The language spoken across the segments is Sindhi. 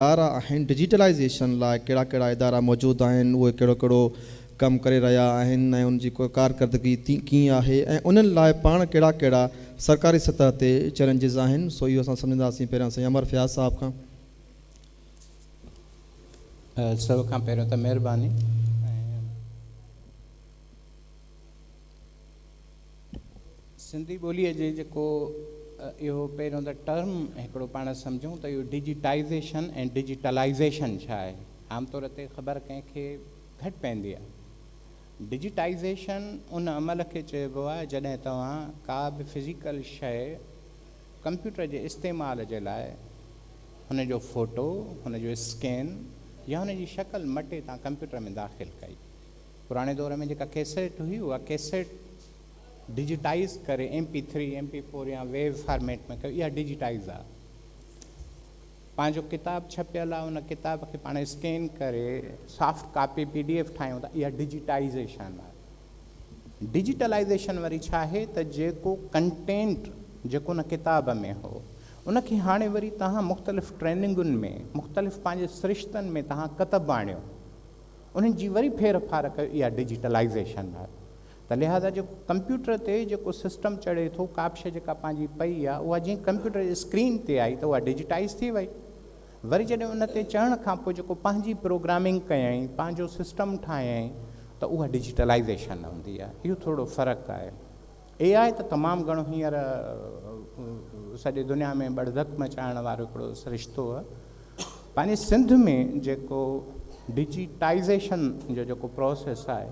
ادارا آهن، ڊجيٽلائيزيشن لاء ڪهڙا ڪهڙا ادارا موجود آهن، اهي ڪهڙو ڪهڙو ڪم ڪري رهيا آهن ۽ ان جي ڪارڪردگي ڪيئن آهي ۽ انهن لاء پاڻ ڪهڙا ڪهڙا سرڪاري سطح تي چئلينجز آهن سو اهو اسان سمجهنداسين پهريان سائين امر فياض صاحب کان. سڀ کان پهريون ته مهرباني. سنڌي ٻوليء جي جيڪو اهو پهريون ته ٽرم هڪڙو پاڻ سمجهون ته اهو ڊجيٽائيزيشن ۽ ڊجيٽلائيزيشن ڇا آهي؟ عام طور تي خبر ڪنهن کي گهٽ پوندي آهي. ڊجيٽائيزيشن ان عمل کي چئبو آهي جڏهن توهان ڪا به فزيڪل شيء ڪمپيوٽر جي استعمال جي لاء هن جو فوٽو، هن جو اسڪين يا هن جي شڪل مٽي تان ڪمپيوٽر ۾ داخل ڪئي. پراڻي دور ۾ جيڪا ڪيسيٽ هئي اها ڪيسيٽ ڊجيٽائيز ڪري M P three, M P four يا ويو فارميٽ ۾ ڪيو اها ڊجيٽائيز آ. پنهنجو ڪتاب ڇپيل آ ان ڪتاب کي پاڻ اسڪين ڪري soft copy P D F ٺاهيون ٿا اها ڊجيٽائيزيشن آ. ڊجيٽلائيزيشن وري ڇا آهي ته جيڪو ڪنٽينٽ جيڪو ان ڪتاب ۾ هو ان کي هاڻي وري توهان مختلف ٽريننگن ۾ مختلف پنهنجي سرشتن ۾ توهان ڪتب آڻيو. انهن جي وري ڦير ڦار ڪيو اها ڊجيٽلائيزيشن آهي ته لهذا جيڪو ڪمپيوٽر تي جيڪو سسٽم چڙهي ٿو ڪا به شيء جيڪا پنهنجي پئي آهي اها جئين ڪمپيوٽر جي اسڪرين تي آئي ته اها ڊجيٽائيز ٿي وئي وري جڏهن ان تي چڙهڻ کان پوء جيڪو پنهنجي پروگرامنگ ڪيائين پنهنجو سسٽم ٺاهيائين ته اها ڊجيٽلائيزيشن هوندي آهي اهو ٿورڙو فرق آهي. اي آء ته تمام گهڻو هينئر سڄي دنيا ۾ ٻڙڌڪ مچائڻ وارو هڪڙو سرشتو آهي. پنهنجي سنڌ ۾ جيڪو ڊجيٽائيزيشن جو جيڪو پروسيس آهي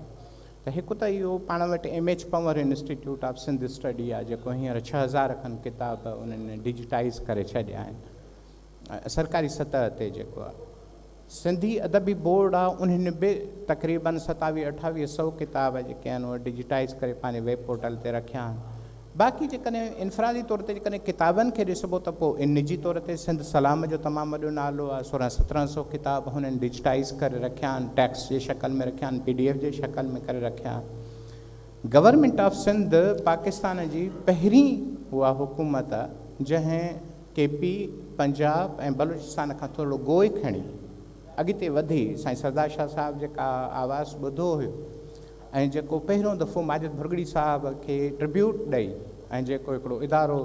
ته هڪ ته اهو پاڻ وٽ M H Panhwar institute of Sindh study آهي جيڪو هينئر ڇهه هزار کن ڪتاب انهن ڊجيٽائيز ڪري ڇڏيا آهن. سرڪاري سطح تي جيڪو آ سنڌي ادبي بورڊ آ انهن به تقريباً ستاويهه اٺاويهه سئو ڪتاب جيڪي آهن اهي ڊجيٽائيز ڪري پنهنجي ويب پورٽل تي رکيا آهن باقي جيڪڏهن انفرادي طور تي جيڪڏهن ڪتابن کي ڏسبو ته پوء نجي طور تي سنڌ سلام جو تمام وڏو نالو آ سورهن سترهن سئو ڪتاب هنن ڊجيٽائيز ڪري رکيا آهن ٽيڪسٽ جي شڪل ۾ رکيا آهن پي ڊي ايف جي شڪل ۾ ڪري رکيا آهن گورنمينٽ آف سنڌ پاڪستان جي پهرين اها حڪومت آ جنهن ڪي پي، پنجاب ۽ بلوچستان کان ٿورڙو گوء کڻي اڳتي وڌي سائين سردار شاهه صاحب جيڪا آواز ٻڌو هيو ۽ جيڪو پهريون دفعو ماجد ڀرڳڙي صاحب کي ٽربيوٽ ڏئي ۽ جيڪو هڪڙو ادارو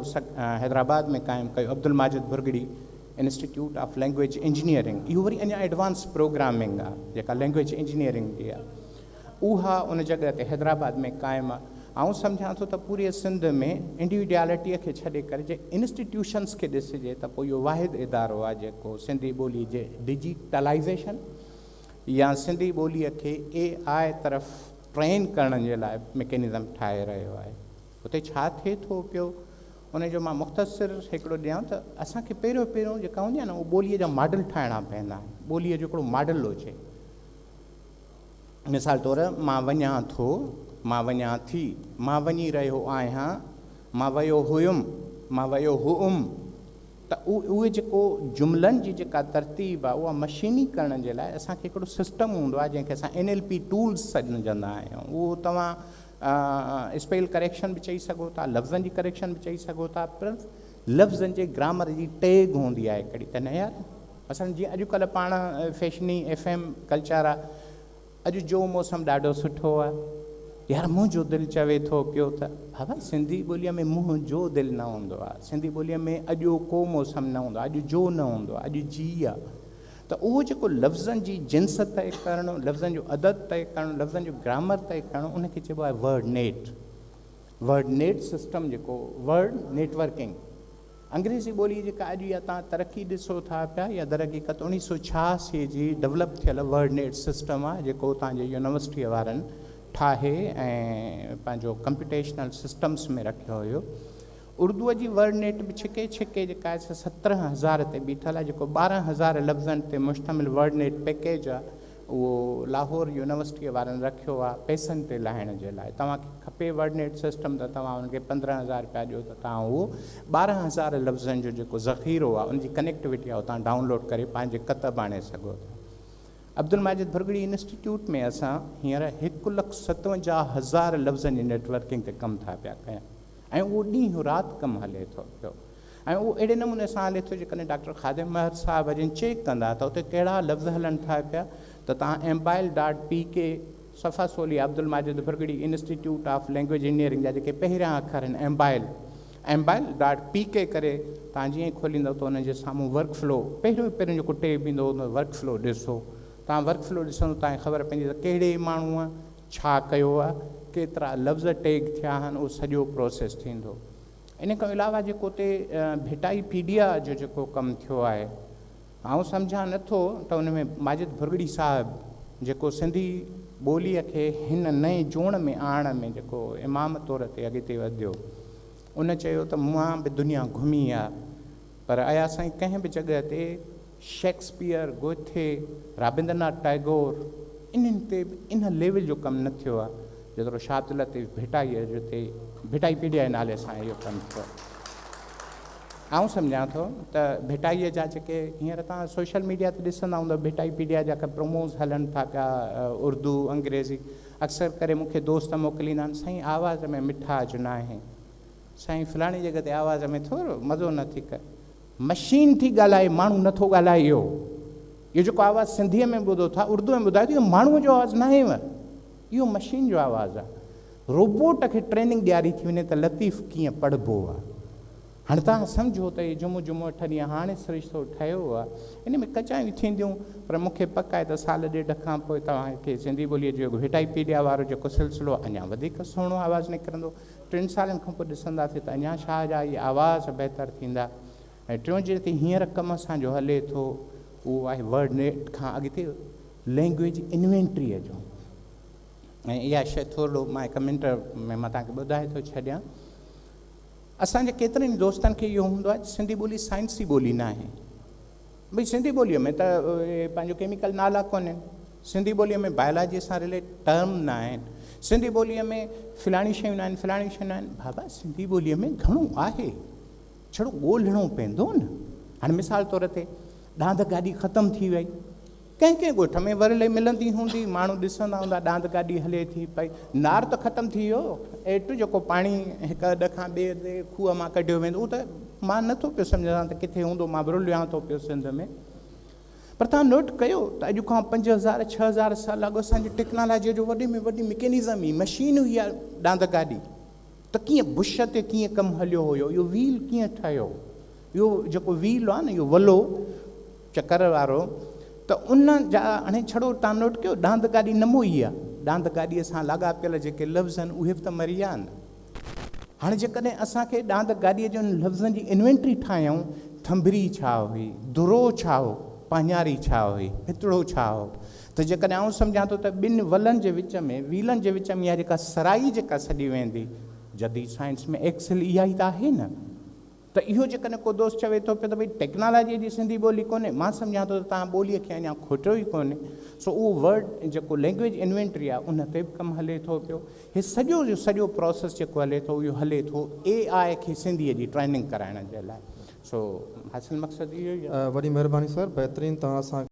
حيدرآباد ۾ قائم ڪيو Abdul Majid Bhurgri institute of language engineering اهو وري اڃا ايڊوانس پروگرامنگ آ جيڪا لئنگويج انجنيئرنگ جي آ. اها ان جڳهه تي حيدرآباد ۾ قائم آ. آئون سمجهان ٿو ته پوريء سنڌ ۾ انڊيوڊيالٽيء کي ڇڏي ڪري جي انسٽيٽيوشنس کي ڏسجي ته پوء اهو واحد ادارو آ جيڪو سنڌي ٻوليء جي ڊجيٽلائيزيشن يا سنڌي ٻوليء کي اي آء طرف ٽرين ڪرڻ جي لاء مڪينزم ٺاهي رهيو آهي. اتي ڇا ٿئي ٿو پيو ان جو مان مختصر هڪڙو ڏيان ته اسان کي پهريون پهريون جيڪا هوندي آ نه اهو ٻوليء جا ماڊل ٺاهڻا پوندا آهن. ٻوليء جو هڪڙو ماڊل هجي. مثال طور، مان وڃان ٿو، مان وڃان ٿي، مان وڃي رهيو آهيان، مان ويو هيم، مان ويو هئم ته اهي جيڪو جملن جي جيڪا ترتيب آهي اها مشيني ڪرڻ جي لاء اسان کي هڪڙو سسٽم هوندو آهي جنهن کي اسان اين ايل پي ٽولز سڏجندا آهيون اهو توهان اسپيل ڪريڪشن به چئي سگهو ٿا، لفظن جي ڪريڪشن به چئي سگهو ٿا پر لفظن جي گرامر جي ٽيگ هوندي آهي ڪهڙي ته نه يار مثلا جيئن اڄ ڪلهه پاڻ فيشني ايف ايم ڪلچر آ اڄ جو موسم ڏاڍو سٺو آ يار منهنجو دل چوي ٿو پيو ته بابا سنڌي ٻوليء ۾ منهنجو دل نه هوندو آ سنڌي ٻوليء ۾ اڄو ڪو موسم نه هوندو آ اڄ جو نه هوندو آ اڄ جي آ ته اهو جيڪو لفظن جي جنس طئي ڪرڻ لفظن جو عدد طئي ڪرڻ لفظن جو گرامر طئي ڪرڻ ان کي چئبو آهي ورڊ نيٽ ورڊنيٽ سسٽم جيڪو ورڊ نيٽ ورڪنگ انگريزي ٻولي جيڪا اڄ اها توهان ترقي ڏسو ٿا پيا يا درحقيقت اڻيهه سؤ ڇهاسي جي ڊولپ ٿيل ورڊنيٽ سسٽم آهي جيڪو اتان جي يونيورسٽي وارن ٺاهي ۽ پنهنجو ڪمپيوٽيشنل سسٽمس ۾ رکيو هيو اردوء جي ورڊنيٽ به ڇڪي ڇڪي جيڪا آهي سا سترهن هزار تي بيٺل آهي جيڪو ٻارهن هزار لفظن تي مشتمل ورڊنيٽ پيڪيج آهي اهو لاهور يونيورسٽيء وارن رکيو آ پئسن تي لاهڻ جي لاء. توهان کي کپي ورڊنيٽ سسٽم ته توهان انهن کي پندرهن هزار رپيا ڏيو ته توهان اهو ٻارهن هزار لفظن جو جيڪو ذخيرو آ ان جي ڪنيڪٽوٽي آ اتان ڊائون لوڊ ڪري پنهنجي ڪتب آڻي سگهو ٿا. عبدالماجد ڀرڳڙي انسٽيٽيوٽ ۾ اسان هينئر هڪ لک ستونجاهه هزار لفظن جي نيٽ ورڪنگ تي ڪم ٿا پيا ڪيون ۽ اهو ڏينهن رات ڪم هلي ٿو پيو. ۽ اهو اهڙي نموني سان هلي ٿو جيڪڏهن ڊاڪٽر خادم مهر صاحب جن چيڪ ڪندا ته اتي ڪهڙا لفظ هلن ٿا پيا ته توهان mobile dot P K صفحه سولي Abdul Majid Bhurgri institute of language engineering جا جيڪي پهريان اکر آهن mobile mobile dot P K ڪري توهان جيئن ئي کوليندو ته ان جي سامهون ورڪ فلو پهريون پهريون جيڪو ٽيب ايندو هو ان ورڪ فلو ڏسو توهان ورڪ فلو ڏسندو توهان کي خبر پوندي ته ڪهڙي ماڻهوء ڇا ڪيو آهي ڪيترا لفظ ٽيگ ٿيا آهن اهو سڄو پروسيس ٿيندو ان کان علاوه جيڪو اتي ڀٽائي پيڊيا جو جيڪو ڪم ٿيو آهي آئون سمجهان نه ٿو ته ان ۾ ماجد ڀرڳڙي صاحب جيڪو سنڌي ٻوليء کي هن نئين جوڻ ۾ آڻڻ ۾ جيڪو امام طور تي اڳتي وڌيو ان چيو ته مان به دنيا گهمي آ پر ايا سائين ڪنهن به جڳهه تي شيڪسپيئر، گوٿي، رابندرناٿ ٽئگور انهن تي به ان ليول جو ڪم نه ٿيو آهي جيترو شاهه عبداللطيف ڀٽائيء جو تي ڀٽائي پيڊيا جي نالي سان اهو ڪم ٿيو آهي. آئون سمجهان ٿو ته ڀٽائيء جا جيڪي هينئر توهان سوشل ميڊيا تي ڏسندا هوندؤ ڀٽائي پيڊيا جا ڪي پروموز هلن ٿا پيا اردو انگريزي اڪثر ڪري مون کي دوست موڪليندا آهن سائين آواز ۾ مٺاج ناهي سائين فلاڻي جڳهه تي آواز ۾ ٿورو مزو نٿي ڪر مشين ٿي ڳالهائي ماڻهو نه ٿو ڳالهائي اهو اهو جيڪو آواز سنڌيء ۾ ٻڌو ٿا اردوء ۾ ٻڌايو ته اهو ماڻهوء جو آواز ناهينء اهو مشين جو آواز آهي روبوٽ کي ٽريننگ ڏياري ٿي وڃي ته لطيف ڪيئن پڙهبو آهي هاڻي توهان سمجهو ته اهي جمعو جمعو اٺ ڏينهن هاڻي سرشتو ٺهيو آهي ان ۾ ڪچايون ٿينديون پر مون کي پڪ آهي ته سال ڏيڍ کان پوء توهان کي سنڌي ٻوليء جو وٽائي پيڊيا وارو جيڪو سلسلو اڃا وڌيڪ سهڻو آواز نڪرندو ٽن سالن کان پوء ڏسنداسين ته اڃا شاهه جا اهي آواز بهتر ٿيندا ۽ ٽيون جيڪي هينئر ڪم اسان جو هلي ٿو اهو آهي ورڊ نيٽ کان اڳتي لينگويج انوينٽريء جو ۽ اها شيء ٿورڙو مان ڪمينٽ ۾ مان توهان کي ٻڌائي ٿو ڇڏيان اسان جي ڪيترن ئي دوستن کي اهو هوندو آهي ته سنڌي ٻولي سائنسي ٻولي ناهي ڀئي سنڌي ٻوليء ۾ ته اهي پنهنجو ڪيميڪل نالا ڪونهن، سنڌي ٻوليء ۾ بايولاجيء سان رليٽ ٽرم نه آهن، سنڌي ٻوليء ۾ فلاڻيون شيون نه آهن، فلاڻيون شيون نه آهن، بابا سنڌي ٻوليء ۾ گهڻو آهي، ڇڙو ڳولهڻو پوندو نه. هاڻي مثال طور تي ڏاند گاڏي ختم ٿي وئي، ڪنهن ڪنهن ڳوٺ ۾ ورلي ملندي هوندي، ماڻهو ڏسندا هوندا ڏاند گاڏي هلي ٿي پئي، نار ته ختم ٿي ويو، ايٽ جيڪو پاڻي هڪ اڏ کان ٻئي اڏ کوهه مان ڪڍيو ويندو هو ته مان نه ٿو پيو سمجهان ته ڪٿي هوندو، مان ورليان ٿو پيو سنڌ ۾. پر توهان نوٽ ڪيو ته اڄ کان پنج هزار ڇهه هزار سال اڳ اسان جي ٽيڪنالاجيء جو وڏي ۾ وڏي مڪينزم ئي مشين هئي اها ڏاند گاڏي ته ڪيئن بش تي ڪيئن ڪم هليو هيو، اهو ويل ڪيئن ٺهيو، اهو جيڪو ويل آهي نه اهو ولو، چڪر وارو ته ان جا هاڻي ڇڙو تان نوٽ ڪيو ڏاند گاڏي نه موئي آ ڏاند گاڏي سان لاڳاپيل جيڪي لفظ آهن اهي به ته مري ويا آهن هاڻي جيڪڏهن اسان کي ڏاند گاڏي جي انهن لفظن جي انوينٽري ٺاهيائون ٿنڀري ڇا هئي درو ڇا هو پاڃاري ڇا هئي هتڙو ڇا هو ته جيڪڏهن آئون سمجهان ٿو ته ٻن ولن جي وچ ۾ ويلن جي وچ ۾ اها جيڪا سرائي جيڪا سڏي ويندي جديد سائنس ۾ ايڪسل اها ئي ته آهي نه ته اهو جيڪڏهن ڪو دوست چوي ٿو پيو ته ڀئي ٽيڪنالاجيء جي سنڌي ٻولي ڪونهي، مان سمجهان ٿو ته توهان ٻوليء کي اڃا کوٽيو ئي ڪونهي. سو اهو ورڊ جيڪو لئنگويج انوينٽري آهي، ان تي به ڪم هلي ٿو پيو. هي سڄو جو سڄو پراسيس جيڪو هلي ٿو، اهو هلي ٿو اي آء کي سنڌيء جي ٽريننگ ڪرائڻ جي لاء. سو حاصل مقصد اهو ئي آهي. وڏي مهرباني سر، بهترين توهان اسان کي.